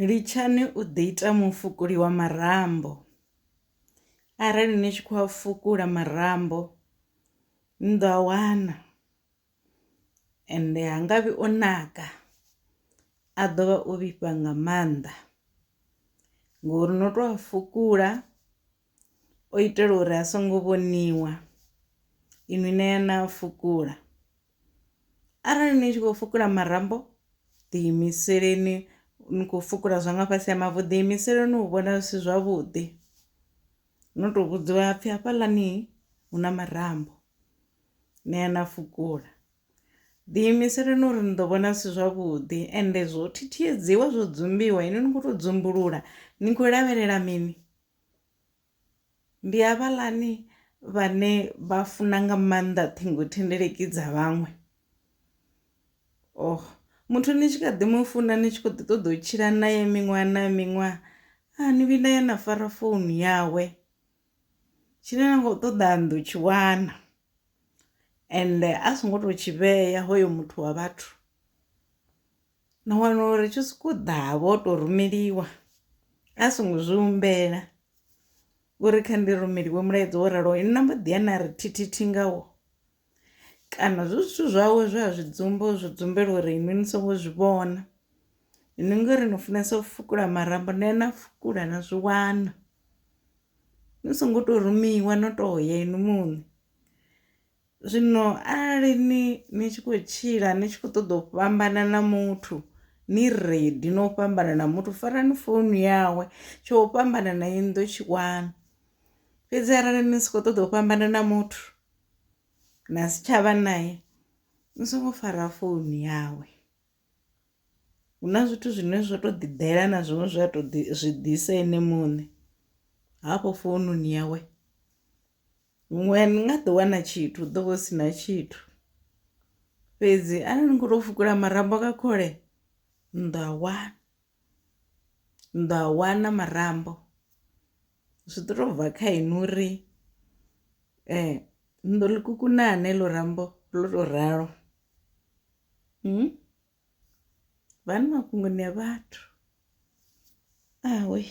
Litshani u ḓi ita mufhukuli wa marambo arali ni tshi khou a fukula marambo ni ḓo a wana ende ha nga vhi o naka a ḓovha o vhifha nga maanḓa ngori no to a fukula. o itela uri a songo vhoniwa inwi na ya na fukula arali ni tshi khou fukula marambo ḓi imiseleni ni khou fukula zwa nga fhasi ha mavu ḓi imiseleni u vhona zwi si zwavhuḓi no to vhudziwa hapfhi hafhaḽani hu na marambo na ya na fukula. Ḓi imiseleni uri ni ḓo vhona zwi si zwavhuḓi ende zwo thithiyedziwa zwo dzumbiwa inwi ni kho to dzumbulula ni khou lavhelela mini. Ndi havhaḽani vhane vha funa nga maanḓa ṱhingothendeleki dza vhaṅwe, oh muthu ni tshi kha ḓi mu funa ni tshi kho ḓi ṱoḓa u tshila nae miṅwaha na miṅwaha a ni vhuyi na ya na fara founu yawe, tshine na kho ṱoḓa a ndo tshi wana ende a songo to tshi vhea hoyo muthu wa vhathu. na wana uri tsho sokou ḓavho o tou rumeliwa a songo zwi humbela uri kha ndi rumeliwe mulaedza wo raloho nṋe mbo ḓi ya na ri thithithi ngawo kana zwi zwithu zwawe zwe a zwi dzumba o zwi dzumbela uri inwi ni songo zwi vhona inwi ngori ni funesa u fukula marambo ni ya na fukula na zwi wana ni songo tou rumiwa no tou ya inwi muṋe. Zwino arali ni ni tshi khou tshila ni tshi khou ṱoḓa u fhambana na muthu ni ready no fhambana na muthu farani founu yawe tsho u fhambana na i ndo tshi wana fhedzi arali ni si khou ṱoḓa u fhambana na muthu na si tshavha naye ni songo fara founu yawe hu na zwithu zwine zwa to ḓi ḓela na zwiṅwe zwi a to ḓi zwi ḓisa ene muṋe hafho foununi yawe. Huṅwe ni nga ḓi wana tshithu ḓo vho si na tshithu fhedzi arali ni khou tou fukula marambo nga khole ni ḓo a wana ni ḓo a wana marambo zwi ḓo tou bva kha inwi uri um ni ḓo ḽi kukuna hani heḽo rambo ḽo tou ralo hmm? vhani mafhungoni a vhathu awe ah,